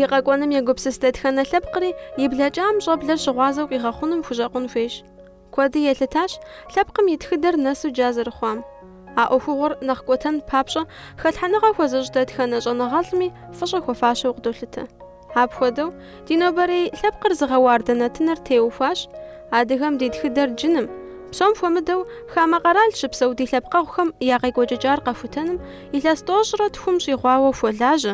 И къэкӏуэным егупсыс дэтхэнэ лъэпкъри, и блэкӏам щӏэблэр щыгъуазэу къигъэхъунум хущӏэкъун хуейщ. Куэди елъытащ лъэпкъым и тхыдэр нэсу джа зэрыхъуам. А ӏуэхугъуэр нэхъ кӏуэтэн папщӏэ хэлъхьэныгъэ хуэзыщӏ дэтхэнэ щӏэныгъэлӏми фӏыщӏэ хуэфащэу къыдолъытэ. Апхуэдэу, ди нобэрей лъэпкъыр зыгъэуардэ нэтыныр теухуащ адыгэм ди тхыдэр джыным, псом хуэмыдэу хамэ къэрал щыпсэу ди лъэпкъэгъухэм я къекӏуэкӏыкӏар къэхутэным илъэс тӏощӏрэ тхум щӏигъуауэ хуэлажьэ,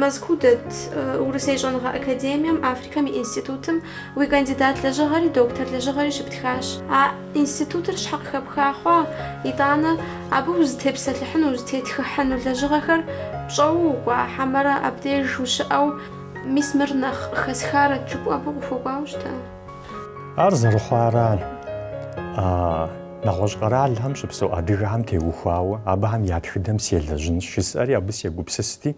Мэзкуу дэт Урысей щӏэныгъэ академием Африкэм и институтым уи кандидат лэжьыгъэри, доктор лэжьыгъэри щыптхащ. А институтыр щхьэ къыхэпха хъуа, итӏанэ абы узытепсэлъыхьыну, узытетхыхьыну лэжьыгъэхэр пщӏэуэ укӏуа, хьэмэрэ абдеж ущыӏэу, мис мыр нэхъ къыхэсхарэт жыпӏэу абы къыхуэкӏуауэ щыта? Ар зэрыхъуар нэгъуэщӏ къэралхэм щыпсэу адыгэхэм теухуауэ абыхэм я тхыдэм селэжьынщ жысӏэри абы сегупсысти,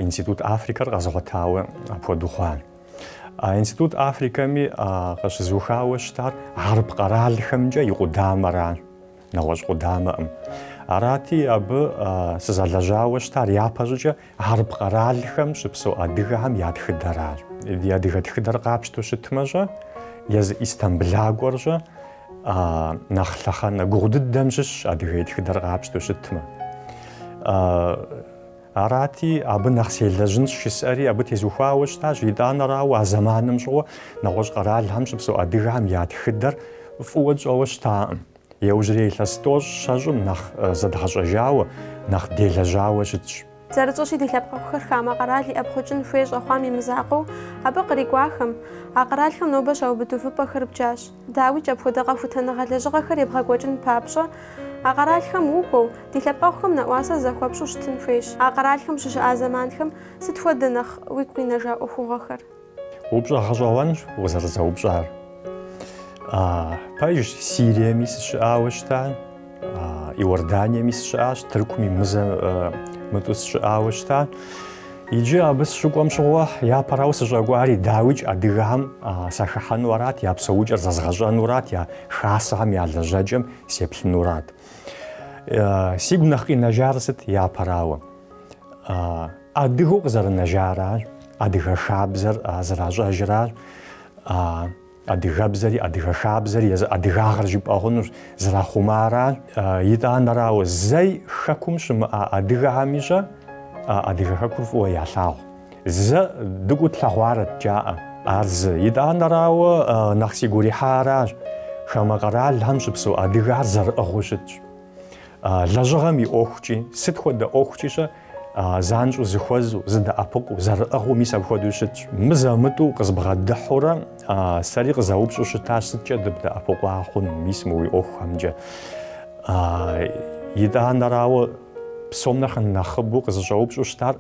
Институт Африкэр къэзгъуэтауэ апхуэдэу хъуа. Институт Африкэми къыщызухауэ щытар хьэрып къэралхэмкӏэ и къудамэращ. нэгъуэщӏ къудамэкъым. Арати, абы сызэлэжьауэ щытар япэщӏыкӏэ хьэрып къэралхэм щыпсэу адыгэхэм я тхыдэращ. Ди адыгэ тхыдэр къапщтэу щытмэ-щэ, езы Истамбылакӏуэр-щэ, нэхъ лъэхъэнэ гугъу дыдэм щыщщ адыгэ и тхыдэр къапщтэу щытмэ. Арати, абы нэхъ селэжьынщ жысӏэри абы тезухуауэ щытащ, итӏанэрауэ, а зэманым щыгъуэ нэгъуэщӏ къэралхэм щыпсэу адыгэхэм я тхыдэр фӏыуэ тщӏэуэ щытакъым. Иужьрей илъэс тӏощӏ щэщӏым нэхъ зэдгъэщӏэжауэ, нэхъ делэжьауэ щытщ. Зэрытщӏэщи, ди лъэпкъэгъухэр хамэ къэрал иӏэпхъукӏын хуей щӏэхъуам и мызакъуэу абы кърикӏуахэм, а къэралхэм нобэ щаубыд увыпӏэхэр бджащ. Дауикӏ, апхуэдэ къэхутэныгъэ лэжьыгъэхэр ебгъэкӏуэкӏын папщӏэ, а къэралхэм укӏуэу, ди лъэпкъэгъухэм нэӏуасэ захуэпщӏу щытын хуейщ. А къэралхэм ущыщыӏа зэманхэм сыт хуэдэ нэхъ уигу къинэжа ӏуэхугъуэхэр? Упщӏэ гъэщӏэгъуэнщ укъызэрызэупщӏар. Пэжщ, Сириеми сыщыӏауэ щытащ. Иорданиеми сыщыӏащ, Тыркуми мызэ-мытӏэу сыщыӏауэ щыта. Иджы абы сыщыкӏуэм щыгъуэ япэрауэ сыщӏэкӏуари, дауикӏ, адыгэхэм сахыхьэну арат, я псэукӏэр зэзгъэщӏэнурат, я хасэхэм я лэжьэкӏэм сеплъынурат. Сигу нэхъ къинэжар сыт япэрауэ? Адыгэу къызэрынэжаращ, адыгэ хабзэр зэращӏэжыращ, Адыгэбзэри, адыгэ хабзэри езы адыгагъэр жыпӏэ хъунущ, зэрахъумаращ. Итӏанэрауэ, зэи хэкум щымыӏа адыгэхэми щӏэ а адыгэ хэкур фӏыуэ ялъагъу. Зэ дыкӏуэу тлъэгъуарэт, жаӏэ. Ар зы. Итӏанэрауэ, нэхъ сигу ирихьаращ, хамэ къэралхэм щыпсэу адыгэхэр зэрыӏыгъыу щытщ. Лэжьыгъэм и ӏуэхукӏи, сыт хуэдэ ӏуэхукӏи-щэ, занщӏэу зыхуэзу, зыдэӏэпыкъуу, зэрыӏыгъыу мис апхуэдэу щытщ. Мызэ-мытӏэу къызбгъэдыхьэурэ сэри къызэупщӏу щытащ, сыткӏэ дыбдэӏэпыкъуа хъун мис мы уи ӏуэхухэмкӏэ? Итӏанэрауэ, псом нэхъ нэхъыбэу къызыщӏэупщӏу щытар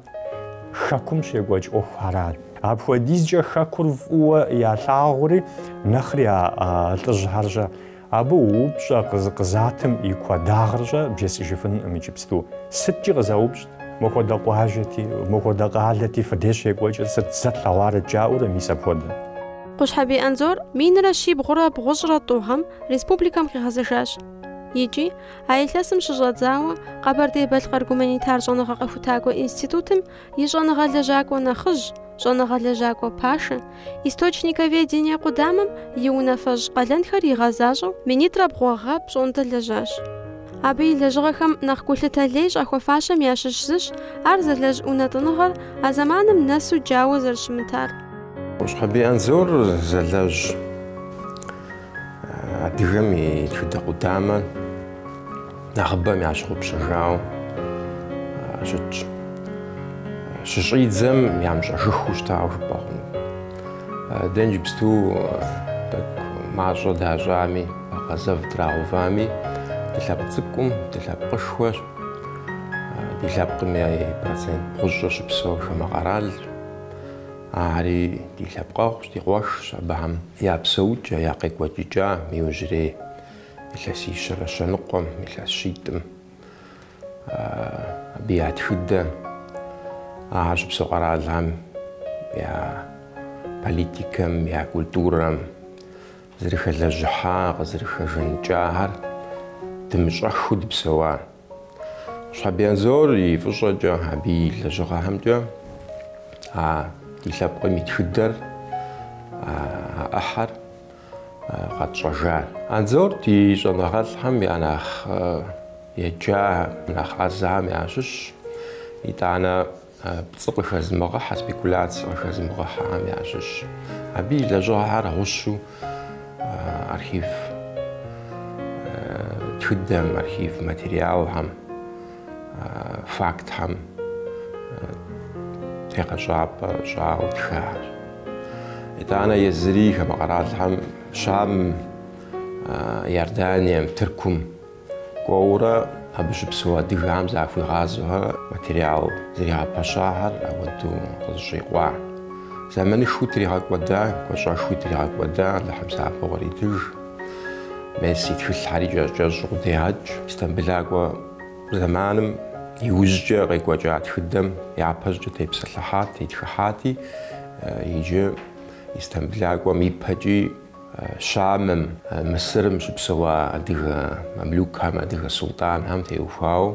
Хэкум щекӏуэкӏ ӏуэхухэращ. Апхуэдизкӏэ Хэкур фӏыуэ ялъагъури, нэхъри а лӏыжьхэр-щэ. Абы упщӏэ къы- къызатым и куэдагъыр щӏэ бжесӏыжыфынкъым иджыпсту. Сыткӏи къызэупщӏт, Мо хуэдэ къуажэти, мо хуэдэ къалэти фи деж щекӏуэкӏыр сыт, зэ тлъэгъуарэт жаӏэурэ мис апхуэдэ? Къущхьэбий Анзор минрэ щибгъурэ бгъущӏрэ тӏу гъэм республикэм къигъэзэжащ. Икӏи, а илъэсым щыщӏэдзауэ, Къэбэрдей-Балъкъэр гуманитар щӏэныгъэ къэхутакӏуэ институтым и щӏэныгъэ лэжьакӏуэ нэхъыжь, щӏэныгъэ лэжьакӏуэ пашэ, источниковедение къудамэм и унафэщӏ къалэнхэр игъэзащӏэу минитӏрэ бгъу гъэ пщӏондэ лэжьащ. Абы и лэжьыгъэхэм нэхъ гулъытэ лей щӏахуэфащэм ящыщ зыщ ар зэлэжь унэтӏыныгъэр а зэманым нэсу джауэ зэрыщымытар. Къущхьэбий Анзор зэлэжь адыгэм и тхыдэ къудамэ. нэхъыбэм ящыгъупщэжауэ щытщ. Щыщӏидзэм ямыщӏэжыхыу щытауэ жыпӏэ хъуну. Дэ иджыпсту тӏэкӏу мащӏэ дащӏами, бэкъу зэв драгъэувами, дылъэпкъ цӏыкӏукъым, дылъэпкъышхуэщ, ди лъэпкъым и процент бгъущӏыр щыпсэур хамэ къэралщ. Ари ди лъэпкъэгъущ, ди къуэшщ, абыхэм я псэукӏэ, я къекӏуэкӏыкӏа мы иужьрей. Илъэсищэрэ щэныкъуэм, илъэс щитӏым, абы я тхыдэм, а щыпсэу къэралхэм я политикэм, я культурэм, зэрыхэлэжьыхьа, къызэрыхэжаныкӏахэр дымыщӏэхыу дыпсэуа. Къущхьэбий Анзор и фӏыщӏэкӏэ, абы и лэжьыгъэхэмкӏэ а ди лъэпкъым и тхыдэр, а ӏыхьэр къэтщӏэжащ. Анзор ди щӏэныгъэлӏхэм я нэхъ еджахэм, нэхъ ӏэзэхэм ящыщщ, итӏанэ пцӏы къыхэзмыгъыхьэ, спекуляцэ къыхэзмыгъыхьэхэм ящыщщ. Абы и лэжьыгъэхэр гъущэу архив тхыдэм, архив материалхэм, фактхэм тегъэщӏапӏэ щӏауэ тхащ. Итӏанэ езыри хамэ къэралхэм Щамым, Иорданием, Тыркум кӏуэурэ абы щыпсэу адыгэхэм захуигъазэурэ материал зэригъэпэщахэр ауэдэу къызэщӏикъуа. Зэманышхуи тригъэкӏуэда, гуащӏэшхуи тригъэкӏуэда, Алыхьым псапэу къритыж. Мес и тхылъхьэри кӏэщӏ-кӏэщӏу къыдегъэкӏ. Истамбылакӏуэ зэманым иужькӏэ къекӏуэкӏа тхыдэм япэщӏкӏэ тепсэлъыхьат, тетхыхьати, иджы Истамбылакӏуэм ипэкӏи Щамым, Мысырым щыпсэуа адыгэ мамлюкхэм, адыгэ султӏанхэм теухуауэ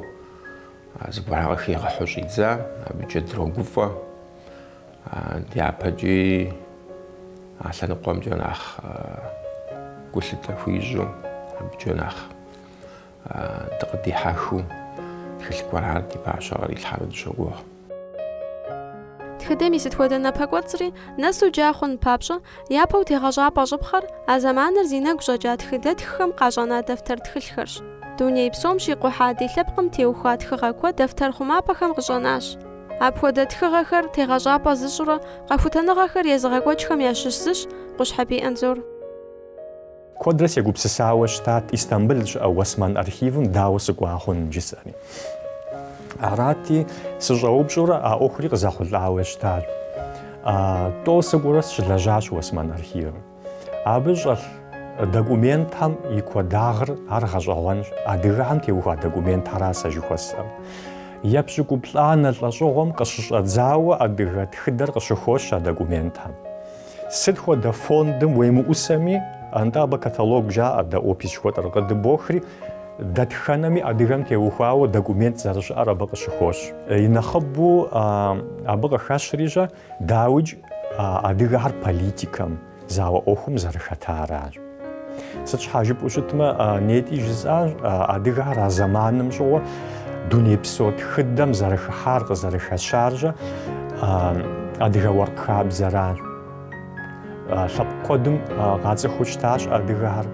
зыгуэрхэр къыхигъэхьу щӏидза, абыкӏэ дрогуфӏэ. Дяпэкӏи а лъэныкъуэмкӏэ нэхъ гулъытэ хуищӏу, абыкӏэ нэхъ дыкъыдихьэхыу тхылъ гуэрхэр ди пащхьэ кърилъхьэну дыщогугъ. Тхыдэм и сыт хуэдэ напэкӏуэцӏри нэсу джа хъун папщӏэ, япэу тегъэщӏапӏэ щӏыпхъэр а зэманыр зи нэгу щӏэкӏа тхыдэтххэм къащӏэна дэфтэр тхылъхэрщ. Дуней псом щикъухьа ди лъэпкъым теухуа тхыгъэ куэд дэфтэр хъумапӏэхэм къыщӏэнащ. Апхуэдэ тхыгъэхэр тегъэщӏапӏэ зыщӏурэ къэхутэныгъэхэр езыгъэкӏуэкӏхэм ящыщ зыщ Къущхьэбий Анзор. Куэдрэ сегупсысауэ щытат Истамбыл щыӏэ Уэсман архивым дауэ сыкӏуа хъун жысӏэри. Арати, сыщӏэупщӏэурэ а ӏуэхури къызэхъулӏауэ щытат. Тӏо сыкӏуэурэ сыщылэжьащ Уэсман архивым. Абы щӏэлъ документхэм и куэдагъыр ар гъэщӏэгъуэнщ, адыгэхэм теухуа документхэра сэ жыхуэсӏэм. Епщыкӏуплӏанэ лӏэщӏыгъуэм къыщыщӏэдзауэ адыгэ тхыдэр къыщыхощ а документхэм. Сыт хуэдэ фондым уемыӏусэми, атӏэ абы каталог жаӏэ, дэ опис жыхуэтӏэр къыдыбохри, дэтхэнэми адыгэм теухуауэ документ зэрыщыӏэр абы къыщыхощ. И нэхъыбэу абы къыхэщри щэ, Дауикӏ, а адыгэхэр политикэм, зауэ ӏуэхум зэрыхэтаращ. Сыт щхьа жыпӏэу щытмэ, нетӏи жысӏащ, адыгэхэр а зэманым щӏыгъуэ дунейпсо тхыдэм зэрыхыхьар, къызэрыхэщар щэ адыгэ уэркъ хабзэращ. Лъэпкъ куэдым къацӏыхуу щытащ адыгэхэр.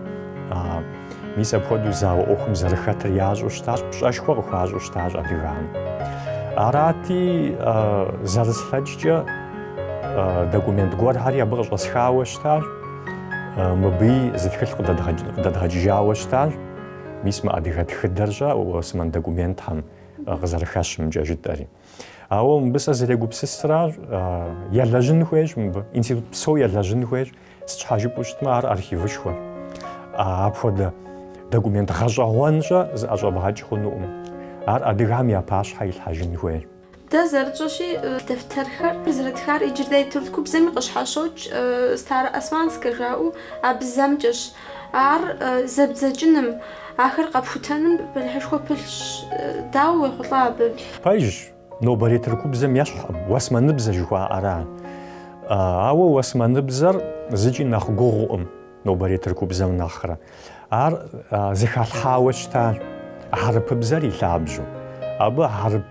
Мис апхуэдэу зауэ ӏуэхум зэрыхэтыр ящӏу щытащ, пщӏэшхуэ къыхуащӏу щытащ адыгэхэм. Арати, зэрыслъэкӏкӏэ документ гуэрхэри абы къыщӏэсхауэ щытащ, мыбыи зы тхылъ къыдэдгъэкӏыжауэ щытащ. Мис мы адыгэ тхыдэр щэ Уэсман документхэм къызэрыхэщымкӏэ жытӏэри. Ауэ мыбы сэ зрегупсысращ, елэжьын хуейщ мыбы, институт псо елэжьын хуейщ, сыт щхьэ жыпӏэу щытмэ ар архивышхуэ. Апхуэдэ документ гъэщӏэгъуэнщӏэ зыӏэщӏэбгъэкӏ хъунукъым. Ар адыгэхэм я пащхьэ илъхьэжын хуейщ. Дэ зэрытщӏэщи, дэфтэрхэр зэрытхар иджырей тыркубзэми къыщхьэщокӏ, староосманскэ жаӏэу, а бзэмкӏэщ. Ар зэбдзэкӏыным, ахэр къэпхутэным бэлыхьышхуэ пылъщ. Дауэ уехъулӏа абы? Пэжщ, нобэрей тыркубзэм ещхькъым, уэсмэныбзэ жыхуаӏэр ар. Ауэ уэсмэныбзэр зыкӏи нэхъ гугъукъым нобэрей тыркубзэм нэхърэ. Ар зыхалъхьауэ щыта хьэрыпыбзэр и лъабжьэу. Абы хьэрып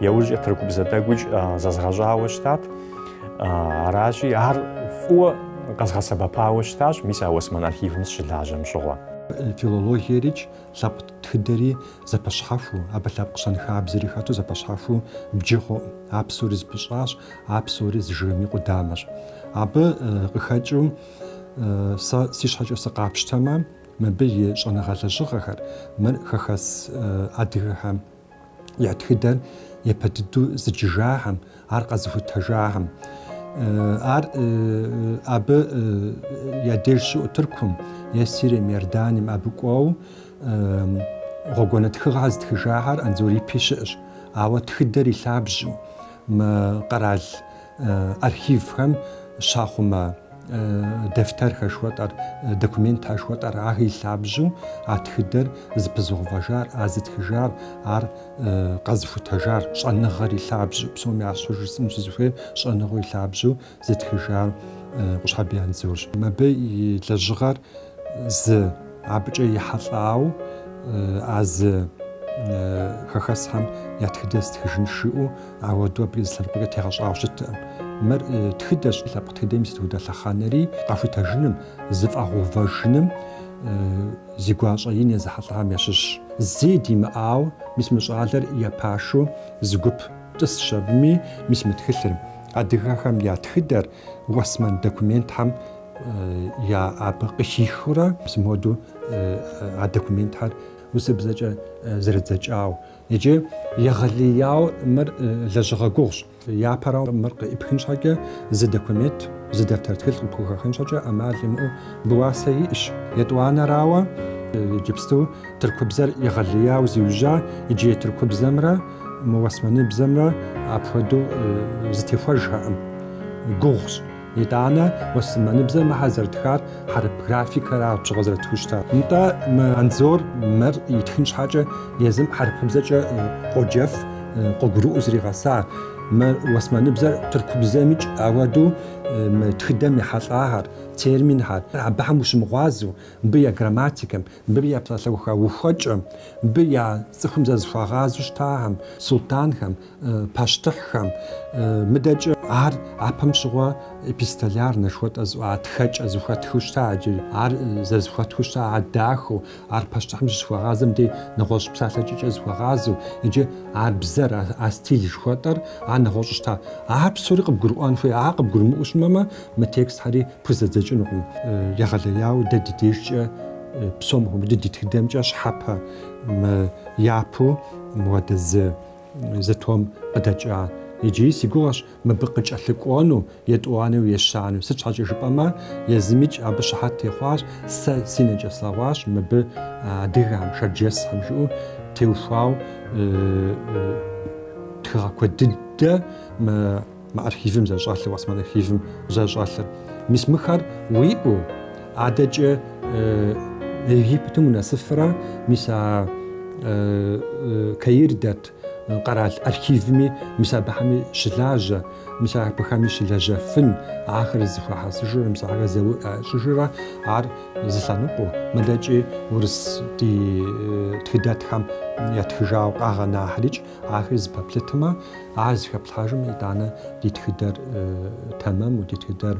Яужкӏэ тыркубзэ тӏэкӏуикӏ зэзгъэщӏауэ щытат. Аращи, ар фӏыуэ къэзгъэсэбэпауэ щытащ, мис а Уэсмэн архивым сыщылажьэм щыгъуэ. Филологиерикӏ лъэпкъ тхыдэри зэпэщхьэхуу, абы лъэпкъ щэнхабзэри хэту зэпэщхьэхуу бджы хъукъым. А псори зыпыщӏащ, а псори зы жыгым и къудамэщ. Абы къыхэкӏыу сэ си щхьэкӏэ сыкъапщтэмэ, мыбы и щӏэныгъэ лэжьыгъэхэр, мыр хэхэс адыгэхэм я тхыдэр япэ дыдэу зыджыжахэм, ар къэзыхутэжахэм. Ар абы я деж щыӏу Тыркум е Сирием, Иорданием абы кӏуэу гъуэгуанэ тхыгъэхэр зытхыжахэр Анзор ипи щыӏэщ. Ауэ тхыдэр и лъабжьу мы къэрал Архивхэм щахъумэ дэфтэр хэшхуэтӏэр, документ хэшхуэтӏэр ар и лъабжьу а тхыдэр зыпызыгъувэжар, а зытхыжар, ар къэзыхутэжар, щӏэныгъэр и лъабжьу, псоми ящхьэу жысӏэну сызыхуейр щӏэныгъэу и лъабжьу зытхыжар Къущхьэбий Анзорщ. Мыбы и лэжьыгъэр зы абыкӏэ ехьэлӏау, а зы хэхэсхэм я тхыдэр стхыжынщ жиӏэу Ауэду абы а зы лъэныкъуэкӏэ тегъэщӏауэ щыткъым. Мыр тхыдэщ, лъэпкъ тхыдэм и сыт хуэдэ лъэхъэнэри къэхутэжыным, зыфӏэгъэувэжыным зи гуащӏэ ин езыхьэлӏахэм ящыщщ. Зэи димыӏау, мис мы щӏалэр я пашэу зы гуп тӏысщ абыми, мис мы тхылъыр. Адыгэхэм я тхыдэр уэсмэн документхэм я абы къыхихыурэ, зы моду а документхэр урысыбзэкӏэ зэридзэкӏау, Иджы егъэлеяуэ мыр лэжьыгъэ гугъущ. Япэрауэ, мыр къыӏыпхын щхьэкӏэ, зы документ, зы дэфтэр тхылъ къыпхухэхын щхьэкӏэ ӏэмал имыӏэу абы уасэ иӏэщ. Етӏуанэрауэ, иджыпсту тыркубзэр егъэлеяуэ зиужьа иджырей тыркубзэмрэ мы уэсмэныбзэмрэ апхуэдэу зытехуэжхэкъым. Гугъущ. Итӏанэ уэсманыбзэр мыхэр зэрытхар хьэрып графикэра апщыгъуэ зэрытхыу щытар. Нтӏэ, мы Анзор мыр итхын щхьэкӏэ езым хьэрыпыбзэкӏэ къоджэф, къыгурыӏуэу зригъэса. Мы уэсманыбзэр тыркубзэмикӏ ауэду мы тхыдэм ехьэлӏахэр, терминхэр, абыхэм ущымыгъуазэу, мыбы я грамматикэм, мыбы я псалъэуха ухуэкӏэм, мыбы я цӏыхум зэрызыхуагъазэу щытахэм, султӏанхэм, пащтыхьхэм, мыдэкӏэ ар япэм щыгъуэ эпистолярнэ жыхуэтӏэ зыӏуа тхэкӏэ зыхуэтхыу щыта икӏи ар зэрызыхуэтхыу щыта ар дахэу, ар пащтыхьым щызыхуэгъазэм дей нэгъуэщӏ псалъэкӏэкӏэ зыхуэгъазэу икӏи а бзэр, а стиль жыхуэтӏэр ар нэгъуэщӏу щыта. Ар псори къыбгурыӏуэн хуей, ар къыбгурымыӏуэу щымэмэ, мы текстхэри пхузэдзэкӏынукъым. Егъэлеяуэ дэ ди дежкӏэ псом хуэмыдэу ди тхыдэмкӏэ щхьэпэ япэу мыуэдэ зы. Зы том къыдэкӏа. Иджыри си гугъэщ мыбы къыкӏэлъыкӏуэну, етӏуанэу ещанэу. Сыт щхьэкӏэ жыпӏэмэ, езымикӏ абы щыхьэт техъуащ, сэ си нэкӏэ слъэгъуащ мыбы адыгэхэм, шэрджэсхэм жыӏэу теухуауэ тхыгъэ куэд дыдэ. Мы архивым зэщӏэлъыр, Осман архивым зэщӏэлъыр. Мис мыхэр уиӏэу, адэкӏэ Египетым унэсыфрэ, мис а Каир дэт къэрал архивми, мис абыхэми щылажьэ, мис абыхэми щылэжьэфын, ахэр зыхуэхьэсыжрэ, мис ахэр зэуӏу щӏыжрэ, ар зы лъэныкъуэу, мыдэкӏи урыс ди тхыдэтххэм ятхыжауэ къагъэнахэрикӏ. Ахэр зэпэплъытмэ, ар зэхэплъхьэжмэ, итӏанэ ди тхыдэр тэмэму, ди тхыдэр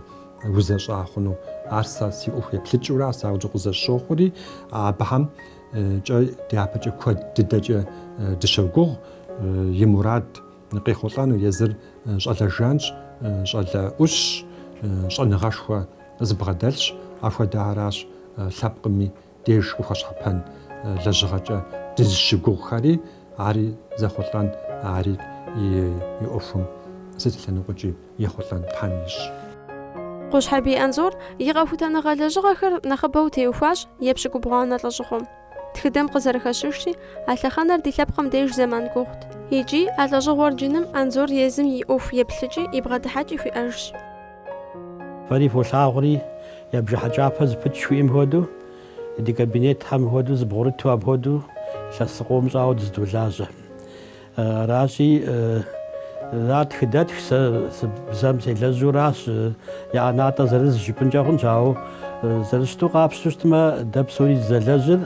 узэщӏа хъуну. Ар сэ си ӏуэху еплъыкӏэура, ар сэ ауэду къызэсщохъури, абыхэмкӏэ дяпэкӏэ куэд дыдэкӏэ дыщогугъ и мурад къехъулӏэну. Езыр щӏалэ жанщ, щӏалэ ӏущщ, щӏэныгъэшхуэ зыбгъэдэлъщ. Апхуэдэхэращ лъэпкъым и деж къыхуэщхьэпэн лэжьыгъэкӏэ дызыщыгугъхэри, ари зэхъулӏэн, ари и ӏуэхум сыт и лъэныкъуэкӏи ехъулӏэн Тхьэм ищӏ. Къущхьэбий Анзор и къэхутэныгъэ лэжьыгъэхэр нэхъыбэу теухуащ епщыкӏубгъуанэ лӏэщӏыгъуэм. Тхыдэм къызэрыхэщыжри, а лъэхъэнэр ди лъэпкъым деж зэман гугъут. Икӏи а лӏэщӏыгъуэр джыным Анзор езым и ӏуэху еплъыкӏи и бгъэдыхьэкӏи хуиӏэжщ. Фэри фолъагъури, я бжыхь кӏапэ зыпытщ жыхуиӏэм хуэдэу, ди кабинетхэм хуэдэу зыбгъурыту апхуэдэу илъэс къом щӏауэ дызэдолажьэ. Аращи, ар тхыдэтхщ, сэ бзэм селэжьуращ, я ӏэнатӏэ зырыз жыпӏынкӏэ хъунщ, ауэ зэрыщыту къапщтэу щытмэ, дэ псори дызэлэжьыр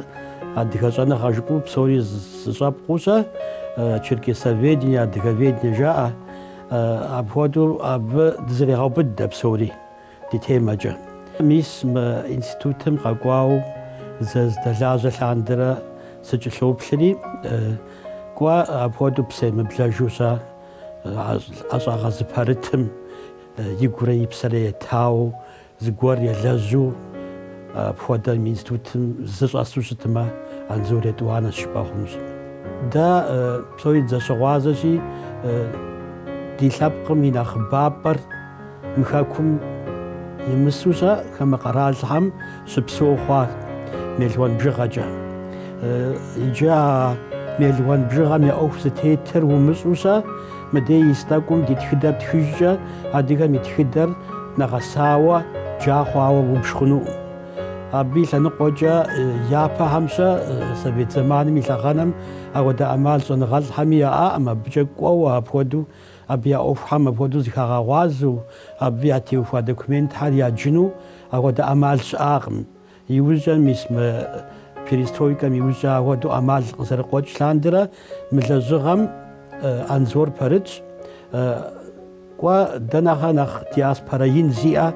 адыгэ щӏэныгъэ жыпӏэу псори зыщӏэпкъуэу щэ, черкесоведение, адыговедение жаӏэ. Апхуэдэу абы дызэрегъэубыд дэ псори ди темэкӏэ. Мис мы институтым къэкӏуауэ зэздэлажьэ лъандэрэ сыкӏылъоплъри, кӏуэ апхуэдэу псэемыблэжу щэ ӏэщӏагъэ зыпэрытым игурэ и псэрэ етауэ Зыгуэр елэжьу апхуэдэ мы институтым зы щӏэсу щытмэ, Анзор етӏуанэщ жыпӏэ хъунущ. Дэ псори дызэщыгъуазэщи, ди лъэпкъым и нэхъыбапӏэр мы хэкум имысу щэ хамэ къэралхэм щыпсэу хъуа мелуан бжыгъэкӏэ. Иджы а мелуан бжыгъэм я ӏуэху зытетыр умыщӏэу щэ, Мыдей ис тӏэкӏум ди тхыдэр птхыжкӏэ, адыгэм и тхыдэр нэгъэсауэ, джа хъуауэ убж хъунукъым. Абы и лъэныкъуэкӏэ япэхэм щэ совет зэманым и лъэхъэнэм апхуэдэ ӏэмал щӏэныгъэлӏхэми яӏакъым, абыкӏэ кӏуэуэ апхуэдэу, абы я ӏуэхухэм апхуэдэу зыхагъэгъуазэу, абы ятеухуа документхэр яджыну апхуэдэ ӏэмал щыӏакъым. Иужькӏэ, мис мы перестройкэм иужькӏэ ахуэдэу ӏэмал къызэрыкъуэкӏ лъандэрэ мы лэжьыгъэм Анзор пэрытщ. Кӏуэ, дэ нэхърэ нэхъ диаспорэ ин зиӏэ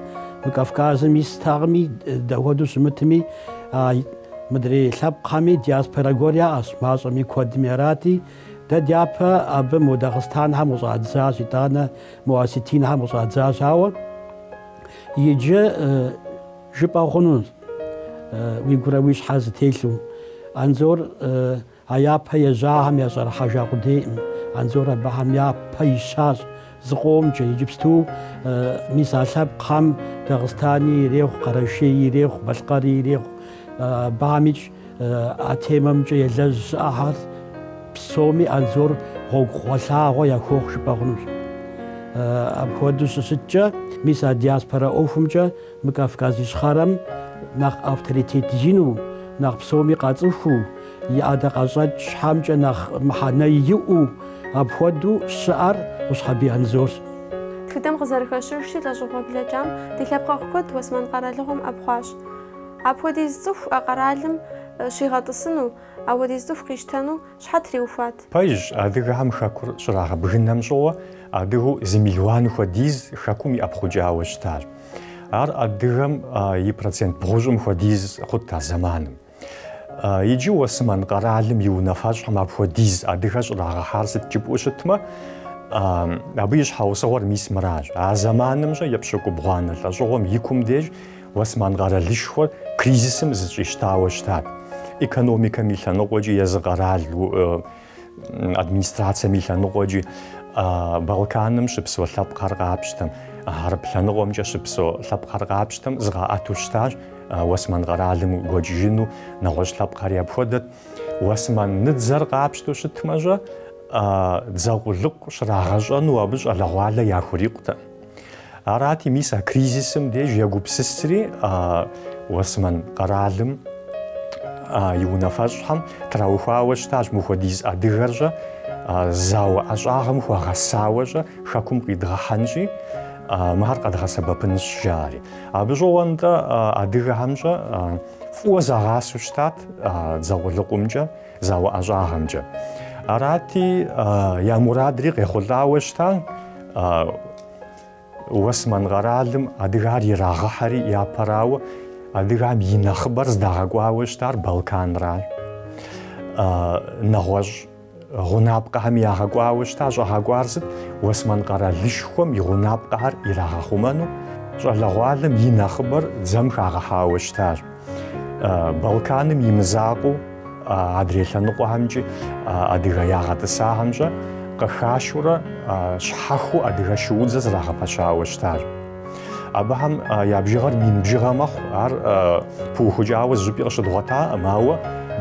мы Кавказым истэкъыми, дапхуэдэу щымытми, а мыдрей лъэпкъхэми диаспорэ гуэр яӏэщ, мащӏэми куэдми арати. Дэ дяпэ абы мо дагъыстанхэм къыщӏадзащ, итӏанэ мо осетинхэм къыщӏадзащ. Ауэ иджы. Жыпӏэ хъунущ уи гурэ уи щхьэрэ зэтелъу, Анзор а япэ ежьахэм ящӏэрыхьэжа къудейкъым. Анзор абыхэм япэ ищащ зыкъомкӏэ. Иджыпсту мис а лъэпкъхэм Дагъыстани ирехъу, Къэрэшей ирехъу, Балъкъэри ирехъу. Абыхэмикӏ а темэмкӏэ елэжь щыӏэхэр псоми Анзор гъуэгугъэлъагъуэ яхуохъу жыпӏэ хъунущ. Апхуэдэу щыщыткӏэ, мис а диаспорэ ӏуэхумкӏэ Мы Кавказ Ищхъэрэм нэхъ авторитет ину, нэхъ псоми къацӏыхуу, и ӏэдакъэщӏэкӏхэмкӏэ нэхъ мыхьэнэ иӏэу апхуэдэу щыӏэр Къущхьэбий Анзорщ. Тхыдэм къызэрыхэщыжщи, лӏэщӏыгъуэ блэкӏам ди лъэпкъэгъу куэд Уэсмэн къэралыгъуэм ӏэпхъуащ. Апхуэдиз цӏыху а къэралым щигъэтӏысыну, Апхуэдиз цӏыху къищтэну щхьэ триухуат? Пэжщ, адыгэхэм хэкур щрагъэбгынэм щыгъуэ адыгэу зы мелуан хуэдиз хэкум иӏэпхъукӏауэ щытащ. Ар адыгэм и процент бгъущӏым хуэдиз хъут а зэманым. Иджы Уэсымэн къэралым и унафэщӏхэм апхуэдиз адыгэ щӏрагъэхьар сыт жыпӏэу щытмэ, абы и щхьэусыгъуэр мис мыращ. А зэманым щэ епщыкӏубгъуанэ лӏэщӏыгъуэм и кум деж Осман къэралышхуэр кризисым зыщӏищтауэ щытат. Экономикэм и лъэныкъуэкӏи, езы къэрал администрацэм и лъэныкъуэкӏи Балканым щыпсэу лъэпкъхэр къапщтэм, хьэрып лъэныкъуэмкӏэ щыпсэу лъэпкъхэр къапщтэм зыкъаӏэту щытащ. Осман къэралым гуэкӏыжыну нэгъуэщӏ лъэпкъхэри апхуэдэт. Осман дзэр къапщтэу щытмэщӏэ, дзэ къулыкъу щрагъэщӏэну абы щӏалэгъуалэ яхурикъутэ. Арати, мис а кризисым деж егупсысри Осмэн къэралым и унафэщӏхэм траухуауэ щытащ мыхуэдиз адыгэрщӏэ зауэ ӏэщӏагъэм хуэгъэсауэщӏэ хэкум къидгъэхьэнщи, мыхэр къэдгъэсэбэпынщ жаӏэри. Абы щыгъуэ-нтӏэ адыгэхэмщӏэ фӏыуэ загъасэу щытат дзэ къулыкъумкӏэ. Зауэ ӏэщӏагъэмкӏэ. Арати, я мурадри къехъулӏауэ щыта, Уэсмэн къэралым адыгар ирагъэхьэри япэрауэ, адыгам и нэхъыбэр здагъэкӏуауэ щытар Балканрат. Нэгъуэщӏ гъунапкъэхэми ягъэкӏуауэ щыта, щӏагъэкӏуар сыт? Уэсмэн къэралышхуэм и гъунапкъэхэр ирагъэхъумэну щӏалэгъуалэм и нэхъыбэр дзэм хагъэхьауэ щытащ. Балканым и мызакъуэу адрей лъэныкъуэхэмкӏи адыгэ ягъэтӏысахэмщӏэ къыхашурэ щхьэхуэу адыгэ шуудзэ зрагъэпэщауэ щытащ. Абыхэм я бжыгъэр мин бжыгъэ мэхъу, ар пыухыкӏауэ зыщӏыпӏи къыщыдгъуэтакъым, ауэ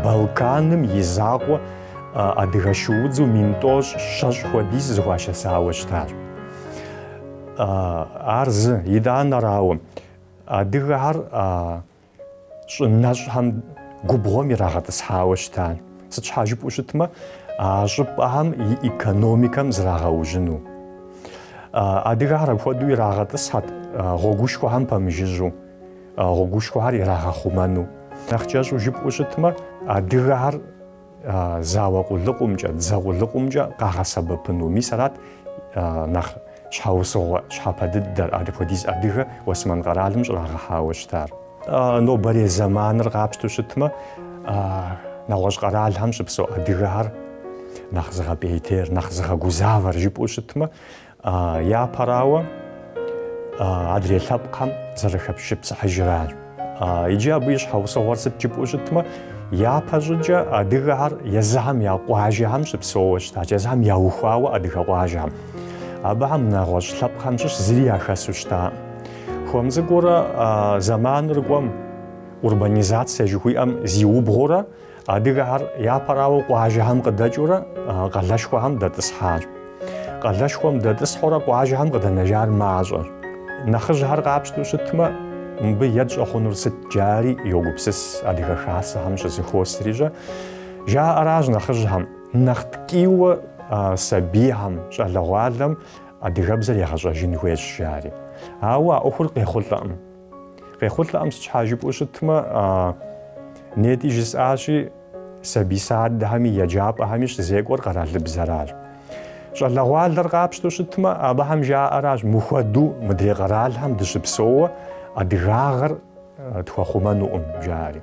Балканым и закъуэ адыгэ шуудзу мин тӏощӏ щэщӏ хуэдиз зыхуашэсауэ щытащ. Ар зы, етӏуанэрауэ, Адыгэхэр а щӏы нэщӏхэм губгъуэм ирагъэтӏысхьауэ щыта, сыт щхьа жыпӏэу щытмэ, а щӏыпӏэхэм и экономикэм зрагъэужьыну. Адыгэхэр апхуэдэу ирагъэтӏысхьэт гъуэгушхуэхэм пэмыжыжьу, гъуэгушхуэхэр ирагъэхъумэну. Нэхъ кӏэщӏу жыпӏэу щытмэ, адыгэхэр зауэ къулыкъумкӏэ, дзэ къулыкъумкӏэ къагъэсэбэпыну. Мис арат нэхъ щхьэусыгъуэ щхьэпэ дыдэр, апхуэдиз адыгэ Уэсмэн къэралым щӏрагъэхьауэ щытар. Нобэрей зэманыр къапщту щытмэ, нэгъуэщӏ къэралхэм щыпсэу адыгэхэр нэхъ зыгъэпӏейтейр, нэхъ зыгъэгузавэр жыпӏэу щытмэ, Япэрауэ, адрей лъэпкъхэм зэрыхэшыпсыхьыжыращ. Иджы абы и щхьэусыгъуэр сыт жыпӏэу щытмэ, япэ щӏыкӏэ адыгэхэр езыхэм я къуажэхэм щыпсэууэ щытащ, езыхэм яухуауэ адыгэ къуажэхэм. Абыхэм нэгъуэщӏ лъэпкъхэм щыщ зыри яхэсу щытакъым. Хуэм цӏыкӏуурэ зэманыр кӏуэм, урбанизацие жыхуиӏэм зиубгъуурэ Адыгэхэр япэрауэ къуажэхэм къыдэкӏыурэ къалэшхуэхэм дэтӏысхьащ. Къалэшхуэм дэтӏысхьурэ къуажэхэм къыдэнэжар мащӏэщ. Нэхъыжьхэр къапщтэу щытмэ, мыбы етщӏэ хъунур сыт джари йогупсыс Адыгэ Хасэхэм щызыхуосри щӏэ. Жаӏэращ нэхъыжьхэм, нэхъ ткӏийуэ сабийхэм, щӏалэгъуалэм адыгэбзэр егъэщӏэжын хуейщ жари. Ауэ а ӏуэхур къехъулӏэкъым. Къехъулӏэкъым сыт щхьа жыпӏэу щытмэ, нетӏи жысӏащи, сабий садэхэми, еджапӏэхэми щызекӏуэр къэралыбзэращ. Щӏалэгъуалэр къапщтэу щытмэ, абыхэм жаӏэращ, мыхуэду мыдрей къэралхэм дыщыпсэууэ адыгагъэр тхуэхъумэнукъым, жаӏэри.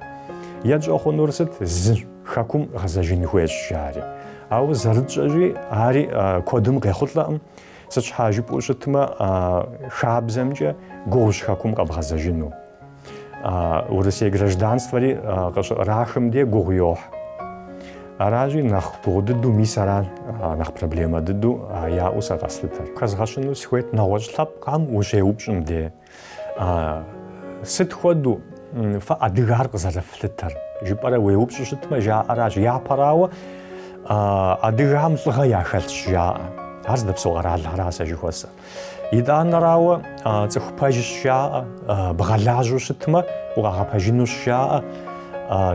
Етщӏэ хъунур сыт? Зы хэкум гъэзэжын хуейщ, жаӏэри. Ауэ зэрытщӏэщи, ари куэдым къехъулӏэкъым. Сыт щхьа жыпӏэу щытмэ, хабзэмкӏэ гугъущ хэкум къэбгъэзэжыну. Урысей гражданствэри къыщыӏэрахым де гугъу йохь. Аращи, нэхъ гугъу дыдэу мис ара нэхъ проблемэ дыдэу яӏэу сэ къэслъытэр. Хэзгъэщыну сыхуейт нэгъуэщӏ лъэпкъхэм ущеупщӏым де. Сыт хуэдэу фэ адыгар къызэрыфлъытэр? Жыпӏэрэ уеупщӏу щытмэ, жаӏэращ. Япэрауэ, адыгэхэм лӏыгъэ яхэлъщ жаӏэ. Ар здэпсэу къэралхэра сэ жыхуэсӏэр. Етӏуанэрауэ, цӏыху пэжщ жаӏэ, бгъэлажьэу щытмэ, укъагъэпэжынущ жаӏэ.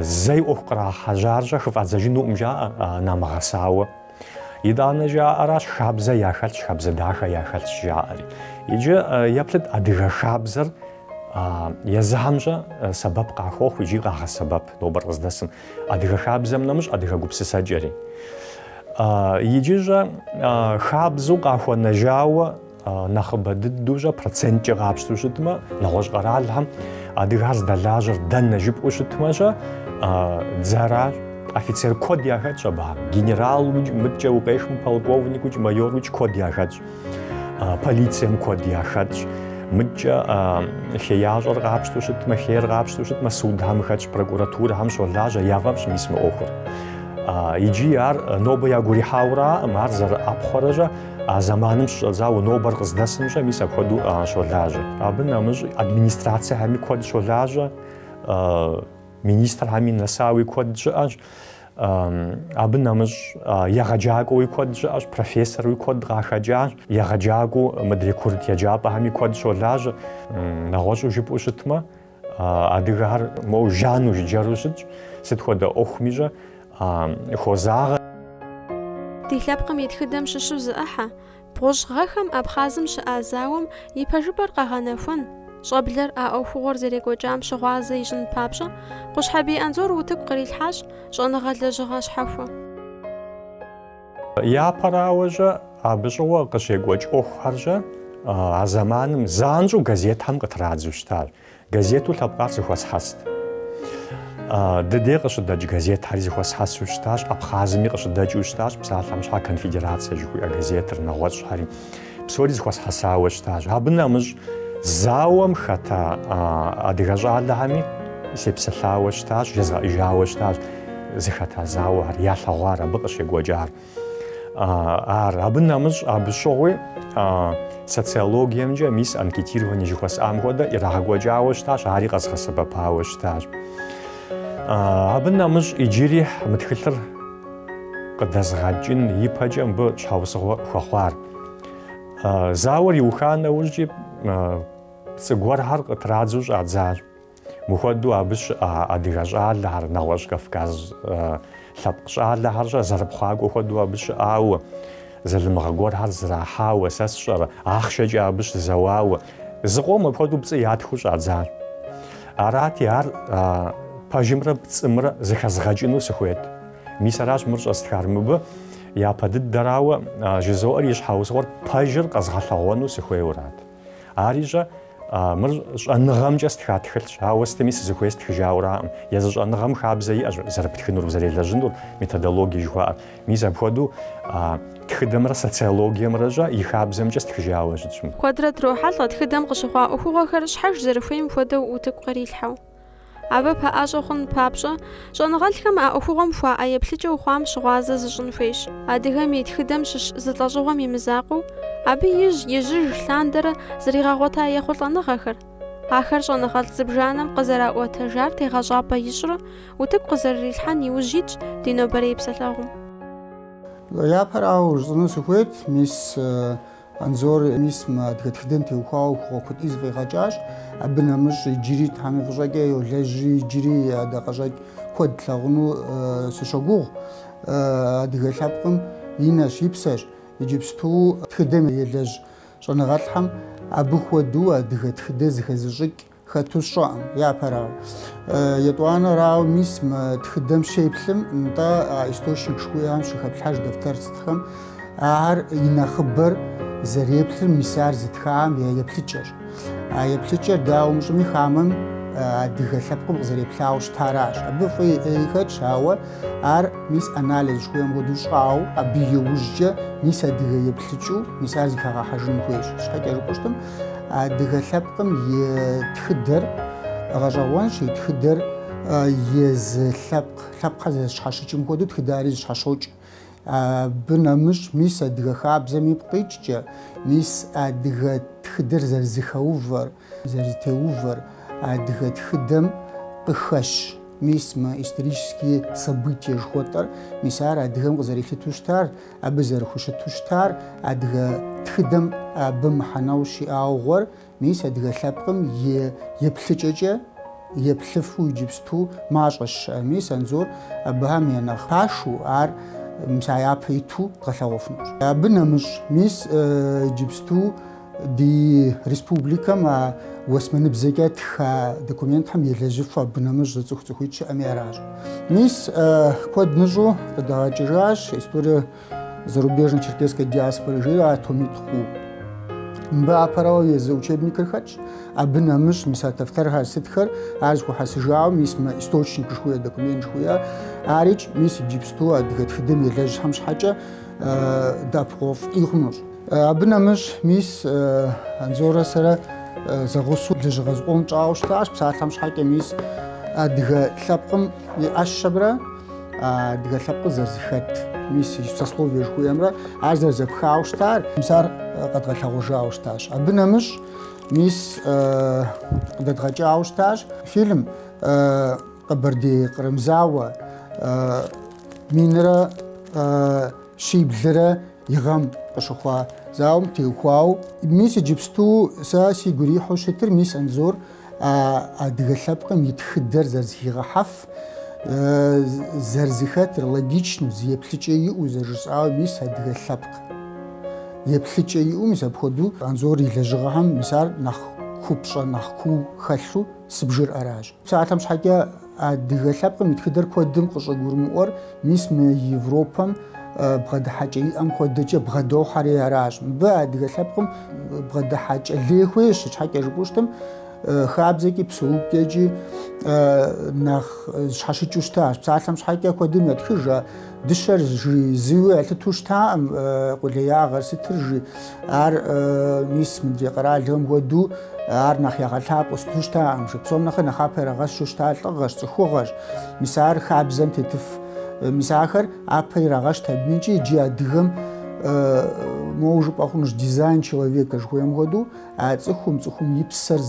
Зэи ӏуэху кърахьэжьар щӏэ хыфӏадзэжынукъым жаӏэ, намыгъэсауэ. Итӏанэ жаӏэращ хабзэ яхэлъщ, хабзэ дахэ яхэлъщ жаӏэри. Иджы еплъыт адыгэ хабзэр езыхэмкӏэ сэбэп къахуохъу икӏи къагъэсэбэп нобэр къыздэсым. Адыгэ хабзэм нэмыщӏ адыгэ гупсысэкӏэри. Иджы щӏэ хабзэу къахуэнэжауэ Нэхъыбэ дыдэу щӏэ проценткӏэ къапщтэу щытмэ, нэгъуэщӏ къэралхэм адыгэр здэлажьэр дэнэ жыпӏэу щытмэ щэ, дзэращ. Офицер куэд яхэтщ абыхэм. Генералукӏ, мыдкӏэ укъехмэ, полковникукӏ, майорукӏ куэд яхэтщ. Полицием куэд яхэтщ. Мыдкӏэ хеящӏэр къапщтэу щытмэ, хейр къапщтэу щытмэ, судхэм хэтщ, прокуратурэхэм щолажьэ, яфӏэфӏщ мис мы ӏуэхур. Иджы ар нобэ ягурихьауэ аӏым, ар зэрыӏэпхъуэрэ щӏэ. А зэманым щыщӏэдзауэ нобэр къыздэсымкӏэ мис апхуэдэу щолажьэ. Абы нэмыщӏ администрациехэми куэд щолажьэ, министрхэми нэсауи куэд щыӏэщ. Абы нэмыщӏ егъэджакӏуэуи куэд щыӏэщ, профессоруи куэд къахэкӏащ, егъэджакӏуэу мыдрей курыт еджапӏэхэми куэд щолажьэ. Нэгъуэщӏу жыпӏэу щытмэ, Адыгэхэр моу жану жыджэру щытщ, сыт хуэдэ ӏуэхуми щӏэх хозагъэ. Ди лъэпкъым и тхыдэм щыщу зы ӏыхьэ, бгъущӏ гъэхэм Абхъазым щыӏа зауэм и пэжыпӏэр къэгъэнэхуэн, щӏэблэр а ӏуэхугъуэр зэрекӏуэкӏам щыгъуазэ ищӏын папщӏэ, Къущхьэбий Анзор утыку кърилъхьащ щӏэныгъэ лэжьыгъэ щхьэхуэ. Япэрауэщӏэ абы щыгъуэ къыщекӏуэкӏ ӏуэхухэрщӏэ а зэманым занщӏэу газетхэм къытрадзу щытащ. Газету лъэпкъар зыхуэсхьэст. Ди дей къыщыдэкӏ газетхэри зыхуэсхьэсу щытащ, Абхъазми къыщыдэкӏыу щытащ, Псалъэм щхьэ конфедерацэ жыхуиӏэ газетыр, нэгъуэщӏхэри. Псори зыхуэсхьэсауэ щытащ. Абы нэмыщӏ зауэм хэта адыгэ щӏалэхэми сепсэлъауэ щытащ, жезгъэӏэжауэ щытащ. Зыхэта зауэ ар, ялъэгъуар, абы къыщекӏуэкӏар ар. Абы нэмыщӏ абы щыгъуи социологиемкӏэ, мис анкетирование жыхуэсӏам хуэдэ, ирагъэкӏуэкӏауэ щытащ, ари къэзгъэсэбэпауэ щытащ. Абы нэмыщӏ иджыри мы тхылъыр къыдэзыгъэкӏын ипэкӏэ мыбы щхьэусыгъуэ хуэхъуар. Зауэр иуха нэужькӏи пцӏы гуэрхэр къытрадзу щӏадзащ. Мыхуэдэу абы щыӏа адыгэ щӏалэхэр, нэгъуэщӏ Кавказ лъэпкъ щӏалэхэрщӏэ зэрыпхъуакӏуэ хуэдэу абы щыӏауэ, Залымыгъэ гуэрхэр зрахьауэ, сэ сщӏэрэ, ахъшэкӏэ абы щызэуауэ, зыкъом апхуэдэу пцӏы ятхыу щӏадзар. Арати, ар пэжымрэ пцӏымрэ зыхэзгъэкӏыну сыхуейт. Мис аращ мыр щӏэстхар. Мыбы япэ дыдэрауэ, жызоӏэри щхьэусыгъуэр пэжыр къэзгъэлъэгъуэну сыхуейуэрат. Арищӏэ, мыр щӏэныгъэмкӏэ стха тхылъщ, ауэ сытми сызыхуей стхыжауэраӏым. Езы щӏэныгъэм хабзэ иӏэщ зэрыптхынур, узэрелэжьынур, методологие жыхуаӏэр. Мис апхуэдэу тхыдэмрэ социологиемрэщӏэ и хабзэмкӏэ стхыжауэ щытщ. Куэдрэ дрохьэлӏэ тхыдэм къыщыхъуа ӏуэхугъуэхэр щхьэж зэрыхуейм хуэдэу утыку кърилъхьэу. Абы пэӏэщӏэ хъун папщӏэ, щӏэныгъэлӏхэм а ӏуэхугъуэм хуаӏэ еплъыкӏэу хъуам щыгъуазэ зыщӏын хуейщ. Адыгэм и тхыдэм щыщ зы лӏэщӏыгъуэм и мызакъуэу, абы ижь-ижьыж лъандэрэ зригъэгъуэта ехъулӏэныгъэхэр, ахэр щӏэныгъэлӏ зыбжанэм къызэраӏуэтэжар тегъэщӏапӏэ ищӏрэ утыку къызэрырилъхьэн иужь итщ ди нобэрей псэлъэгъум. Япэрауэ жысӏэну сыхуейт, мис. Анзор э мис мы адыгэ тхыдэм теухуауэ ӏуэхугъуэ куэди зыфӏигъэкӏащ. Абы нэмыщӏ иджыри Тхьэм и фӏыщӏэкӏэ йолэжьри, иджыри ӏэдакъэщӏэкӏ куэд тлъагъуну сыщогугъ. Адыгэ лъэпкъым и нэщ, и псэщ. Иджыпсту тхыдэм елэжь щӏэныгъэлӏхэм абы хуэдэу адыгэ тхыдэ зыхэзыщӏыкӏ Хэту сщӏэкъым, япэрауэ. Етӏуанэрауэ, мис мы тхыдэм щеплъым, нтӏэ а источник жыхуиӏэм щыхэплъхьэж дэфтэр сытхэм. Ахэр и нэхъыбэр зэреплъыр мис ар зытхам я еплъыкӏэрщ. А еплъыкӏэр, дауэ мыщӏэми, хамэм адыгэ лъэпкъым къызэреплъауэ щытаращ. Абы фӏыи ӏеи хэтщ, ауэ ар мис анализ жыхуиӏэм хуэдэу щӏауэ, абы иужькӏэ мис адыгэ еплъыкӏэу мис ар зэхэгъэхьэжын хуейщ. Щхьэкӏэ жыпӏэу щытым, Адыгэ лъэпкъым и тхыдэр гъэщӏэгъуэнщ, и тхыдэр езы лъэпкъ, лъэпкъхэр зэрызэщхьэщыкӏым хуэдэу тхыдари зэщхьэщокӏ. Абы нэмыщӏ, мис адыгэ хабзэм ипкъ иткӏэ, мис адыгэ тхыдэр зэрызэхэувэр, зэрызэтеувэр адыгэ тхыдэм къыхэщ. Мис мы исторические события жыхуэтӏэр, мис ар адыгэм къызэрилъытэу щытар. Абы зэрыхущыту щытар адыгэ тхыдэм абы мыхьэнэу щиӏаугъуэр, мис адыгэ лъэпкъым и еплъыкӏэкӏэ еплъыфу иджыпсту мащӏэщ щыӏэр. Мис Анзор абыхэм я нэхъ пашу ар мис а япэ иту дгъэлъэгъуэфынущ. Абы нэмыщӏ, мис иджыпсту Ди республикэм а уэсмэныбзэкӏэ тха документхэм елэжьыфу абы нэмыщӏ зы цӏыху цӏыхуитӏ щыӏэми аращ. Мис куэд мыщӏэу къыдагъэкӏыжащ история зарубежной черкесской диаспоры жери а томитӏ хъуу. Мыбы япэрауэ езы учебникыр хэтщ, абы нэмыщӏ мис а дэфтэрхэр сытхэр, ар зэхуэхьэсыжауэ мис мы источник жыхуиӏэ документ жыхуиӏэ арикӏ, мис иджыпсту адыгэ тхыдэм елэжьхэм щхьэкӏэ дэӏэпыкъуэгъуфӏи хъунущ. Абы нэмыщӏ мис Анзорэ сэрэ зэгъусэу лэжьыгъэ зыкъом тщӏауэ щытащ, псалъэм щхьэкӏэ мис адыгэ лъэпкъым и ӏэщэмрэ адыгэ лъэпкъыр зэрызэхэт мис и сословие жыхуиӏэмрэ ар зэрызэпхауэ щытар, мис ар къэдгъэлъэгъуэжауэ щытащ. Абы нэмыщӏ мис къыдэдгъэкӏауэ щытащ фильм Къэбэрдей-Кърым зауэ минрэ щиблрэ И гъэм къыщыхъуа зауэм теухуауэ, мис иджыпсту сэ сигу ирихьу щытыр мис Анзор а адыгэ лъэпкъым и тхыдэр зэрызэхигъэхьэф, зэрызэхэтыр, логичну, зы еплъыкӏэ иӏэу зэрыжысӏауэ мис адыгэ лъэпкъ еплъыкӏэ иӏэу мис апхуэдэу Анзор и лэжьыгъэхэм мис ар нэхъ купщӏэ, нэхъ куу хэлъу сыбжыр аращ. Псалъэм щхьэкӏэ адыгэ лъэпкъым и тхыдэр куэдым къыщӏыгурымыӏуэр мис мы Европэм бгъэдыхьэкӏэ иӏэм хуэдэкӏэ бгъэдохьэри аращ. Мыбы адыгэ лъэпкъым бгъэдыхьэкӏэ лей хуейщ, щхьэкӏэ жыпӏэу щытым, хабзэкӏи псэукӏэкӏи нэхъ зэщхьэщыкӏыу щытащ. Псалъэм щхьэкӏэ куэдым ятхыж. Дыщэр жи зыуи ялъыту щытаӏым къулеягъэр сытыр жи. Ар мис мыдрей къэралхэм хуэдэу ар нэхъ ягъэлъапӏэу сыту щытаӏым жи. Псом нэхъри нэхъапэ ирагъэщу щыта лӏыгъэщ, цӏыхугъэщ. Мис ар хабзэм тетыф. Мис ахэр апэ ирагъэщт абы икӏи иджы адыгэм моуэ жыпӏэ хъунущ дизайн человека жыхуаӏэм хуэдэу, а цӏыхум, цӏыхум и псэр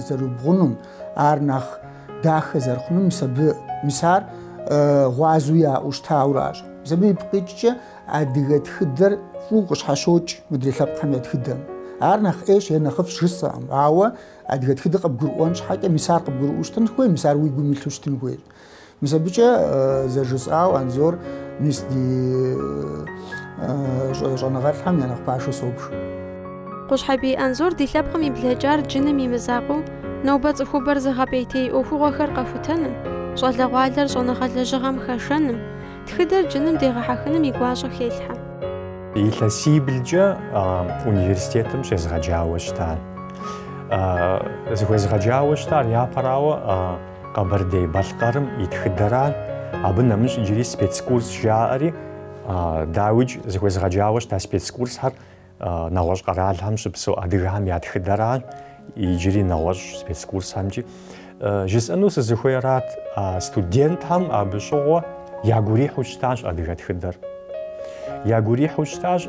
зэрыбэгъуэнум, ар нэхъ Дахэ зэрыхъунум мис абы, мис ар гъуазэу яӏэу щытауращ. Мис абы ипкъикӏкӏэ адыгэ тхыдэр фӏыуэ къыщхьэщокӏ мыдрей лъэпкъхэм я тхыдэм. Ар нэхъ ӏейщ е нэхъыфӏщ жысӏэкъым, ауэ адыгэ тхыдэр къыбгурыӏуэн щхьэкӏэ мис ар къыбгурыӏуэу щытын хуейщ, мис ар уи гум илъу щытын хуейщ. Мис абыкӏэ зэрыжысӏауэ Анзор мис ди щӏэныгъэлӏхэм я нэхъ пашэу собж. Къущхьэбий Анзор ди лъэпкъым и блэкӏар джыным и мызакъуэу нобэ цӏыхубэр зыгъэпӏейтей ӏуэхугъуэхэр къэхутэным, щӏалэгъуалэр щӏэныгъэ лэжьыгъэм хэшэным, тхыдэр джыным дегъэхьэхыным и гуащӏэ хелъхьэ. Илъэсиблкӏэ университетым щезгъэджауэ щытащ. Зыхуезгъэджауэ щытар япэрауэ Къэбэрдей-Балъкъэрым и тхыдэрат, абы нэмыщӏ иджыри спецкурс жаӏэри, дауикӏ зыхуезгъэджауэ щыта спецкурсхэр Нэгъуэщӏ къэралхэм щыпсэу адыгэхэм я тхыдэращ, иджыри нэгъуэщӏ спецкурсхэмкӏи. Жысӏэну сызыхуейрат, студентхэм абы щыгъуэ ягурихьу щытащ адыгэ тхыдэр. Ягурихьу щытащ,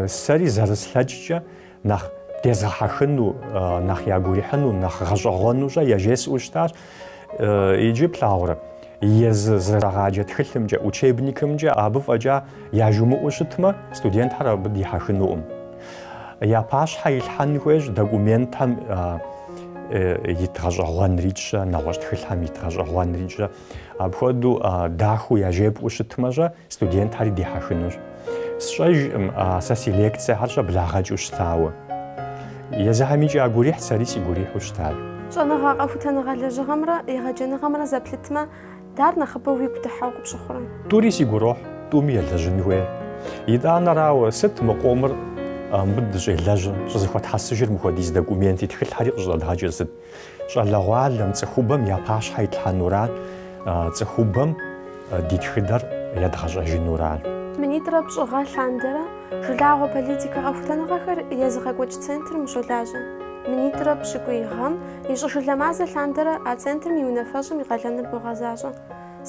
сэри зэрыслъэкӏкӏэ нэхъ дезгъэхьэхыну, нэхъ ягурихьыну, нэхъ гъэщӏэгъуэну-щэ яжесӏэу щытащ. Иджы плъагъурэ, езы зэрагъаджэ тхылъымкӏэ, учебникымкӏэ абы фӏэкӏа яжумыӏэу щытмэ, студентхэр абы дихьэхынукъым. Я пащхьэ илъхьэн хуейщ документхэм ит гъэщӏэгъуэнрикӏ-щэ, нэгъуэщӏ тхылъхэм ит гъэщӏэгъуэнрикӏ-щэ. Апхуэдэу дахэу яжепӏэу щытмэ-щэ, Студентхэри дихьэхынущ. Сщӏэжкъым, сэ си лекцэхэр щыблагъэкӏыу щытауэ. Езыхэм икӏи ягурихьт, сэри сигурихьу щытащ. Щӏэныгъэ къэхутэныгъэ лэжьыгъэмрэ егъэджэныгъэмрэ зэплъытмэ, дэра нэхъыбэу уигу дыхьэу къыпщыхъурэ? Тӏури си гурохь, тӏуми елэжьын хуей. Итӏанэрауэ, сыт мы къомыр мыбы дыщӏелэжьыр, щӏызэхуэтхьэсыжыр мыхуэдиз документи тхылъхэри къыщӏыдэдгъэкӏыр сыт? Щӏалэгъуалэм, цӏыхубэм я пащхьэ итлъхьэнура, цӏыхубэм ди тхыдэр едгъэщӏэжынура? Минитӏрэ пщӏыгъэ лъандэрэ жылагъуэ политикэ къэхутэныгъэхэр езыгъэкӏуэкӏ центрым ущолажьэ. Минитӏрэ пщыкӏуий гъэм и щӏышылэ мазэ лъандэрэ а центрым и унафэщӏым и къалэныр богъэзащӏэ.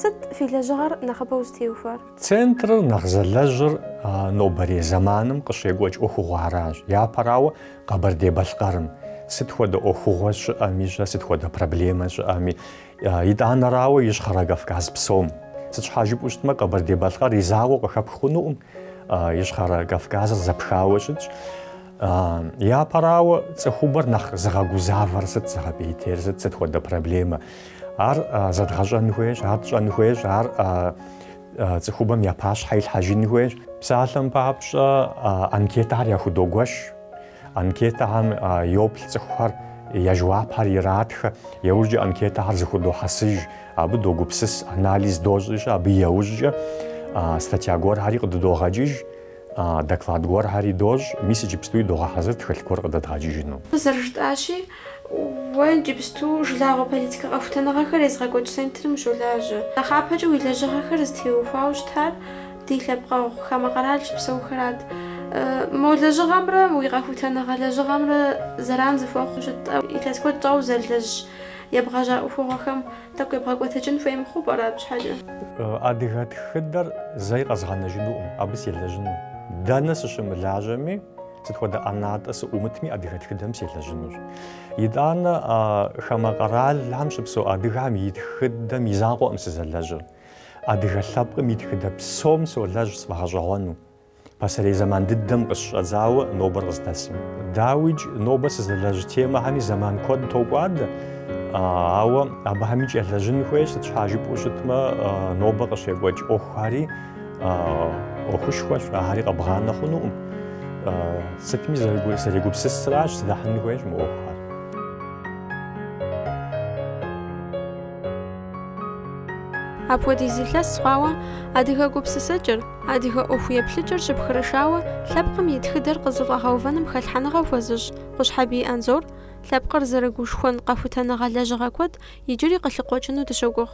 Сыт фи лэжьыгъэр нэхъыбэу зытеухуар? Центрыр нэхъ зэлэжьыр нобэрей зэманым къыщекӏуэкӏ ӏуэхугъуэращ. Япэрауэ, Къэбэрдей-Балъкъэрым сыт хуэдэ ӏуэхугъуэ щыӏэми-щэ, сыт хуэдэ проблемэ щыӏэми, итӏанэрауэ Ищхъэрэ Кавказ псом. Сыт щхьа жыпӏэу щытмэ, Къэбэрдей-Балъкъэр и закъуэу къыхэпх хъунукъым, Ищхъэрэ Кавказыр зэпхауэ щытщ. Япэрауэ, цӏыхубэр нэхъ зыгъэгузавэр сыт, зыгъэпӏейтейр сыт, сыт хуэдэ проблемэ, ар зэдгъэщӏэн хуейщ, ар тщӏэн хуейщ, ар Цӏыхубэм я пащхьэ илъхьэжын хуейщ. Псалъэм папщӏэ, анкетэхэр яхудогуэш. Анкетэхэм йоплъ цӏыхухэр, я жэуапхэр иратхэ. Иужькӏэ анкетэхэр зыхудохьэсыж, абы догупсыс, анализ дощӏи-щэ, абы иужькӏэ статья гуэрхэри къыдыдогъэкӏыж, доклад гуэрхэри дощӏ. Мис иджыпстуи догъэхьэзыр тхылъ гуэр къыдэдгъэкӏыжыну. Зэрыжытӏащи, Уэ иджыпсту жылагъуэ политикэ къэхутэныгъэхэр езыгъэкӏуэкӏ центрым ущолажьэ. Нэхъапэкӏэ уи лэжьыгъэхэр зытеухуауэ щытар ди лъэпкъэгъу хамэ къэрал щыпсэухэрат. Мо лэжьыгъэмрэ уи къэхутэныгъэ лэжьыгъэмрэ зэран зыхуэхъуу щыту, илъэс куэд щӏауэ узэрылэжь ебгъэжьа ӏуэхугъуэхэм тӏэкӏу ебгъэкӏуэтэкӏын хуей мыхъуу пӏэрэ абы щхьэкӏэ? Адыгэ тхыдэр зэи къэзгъэнэжынукъым, абы селэжьыну дэнэ сыщымылажьэми. Сыт хуэдэ ӏэнатӏэ сыӏумытми адыгэ тхыдэм селэжьынущ. Итӏанэ хамэ къэралхэм щыпсэу адыгэхэм и тхыдэм и закъуэкъым сызэлэжьыр. Адыгэ лъэпкъым и тхыдэ псом солэжь сфӏэгъэщӏэгъуэну. Пасэрей зэман дыдэм къыщыщӏэдзауэ нобэр къыздэсым. Дауикӏ, нобэ сызэлэжь темэхэми зэман куэд токӏуадэ, ауэ абыхэмикӏ елэжьын хуейщ, сыт щхьа жыпӏэу щытмэ, нобэ къыщекӏуэкӏ ӏуэхухэри, ӏуэхушхуэщ, ари къэбгъанэ хъунукъым. Сытми зэрегупсысращ, зэдэхьын хуейщ мы ӏуэхухэр. Апхуэдиз илъэс хъуауэ адыгэ гупсысэкӏэр, адыгэ ӏуэху еплъыкӏэр щыпхырышауэ лъэпкъым и тхыдэр къызыфӏэгъэувэным хэлъхьэныгъэ хуэзыщӏ Къущхьэбий Анзор лъэпкъыр зэрыгушхуэн къэхутэныгъэ лэжьыгъэ куэд иджыри къылъыкъуэкӏыну дыщогугъ.